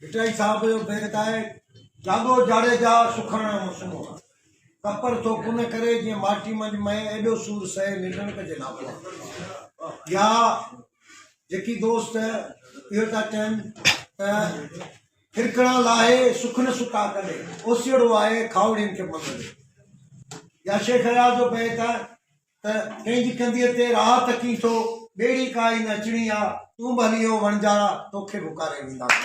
ڀٽائي صاحب جو بيت آهي، جاڳو جاڙيجا سکڻ جو موسم آ، ڪپر ٿو ڪن ڪري جيئن ماٽي منجھ مئي ايڏو سور سهي ننڊڻ ڪجي ناپو آ. يا جيڪي دوست اهو ٿا چون ته ڦرڪڻا لاهي سکن ستا ڪري اوسيئڙو آهي کاهوڙين کي مڱ ڏي يا شيخ اياز جو بيت آهي ته ڪنهن جي ڪنڌيء تي راهه تڪين ٿو، ٻيڙي ڪائي نه اچڻي آ، تون به هلي اهو وڻجارا توکي به اڪاري وينداسون.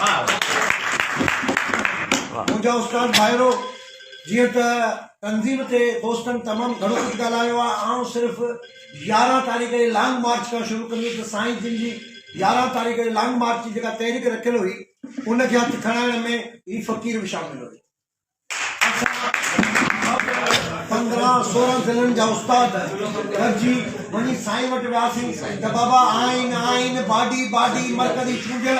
منهنجا استاد ڀائرو! جيئن ته تنظيم تي دوستن تمام گهڻو ڪجهه ڳالهايو آ، آئون صرف يارهن تاريخ جي لانگ مارچ کان شروع ڪندس ته سائين جن جي يارهن تاريخ جي لانگ مارچ جي جيڪا تحريڪ رکيل هئي، ان کي هٿ کڻائڻ ۾ هي فقير به شامل هيو. پندرهن سورهن ضلعن جا استاد گڏجي وڃي سائين وٽ وياسين ته بابا آئين آئين باڊي باڊي مرڪزي چونڊيل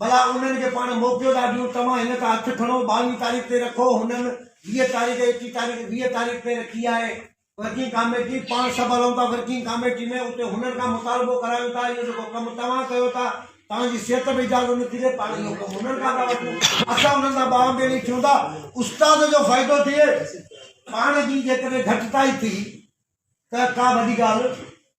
ڀلا انهن کي پاڻ موقعو ٿا ڏيون توهان هن تان هٿ کڻو ٻاويهين تاريخ تي رکو هنن ويهه تاريخ ايڪيهه تاريخ ويهه تاريخ تي رکي آهي ورڪنگ ڪاميٽي پاڻ سڀ هلون ٿا ورڪنگ ڪاميٽي ۾ اتي هنن کان مطالبو ڪرايون ٿا اهو جيڪو ڪم توهان ڪيو ٿا توهان جي صحت به اجازت نه ٿي ڏي پاڻ اهو ڪم هنن کان ٿا وٺون اسان هنن سان ٻانهن ٻيڙي ٿيون ٿا استاد جو فائدو ٿئي پاڻ جي جيڪڏهن گهٽتائي ٿي ته ڪا وڏي ڳالهه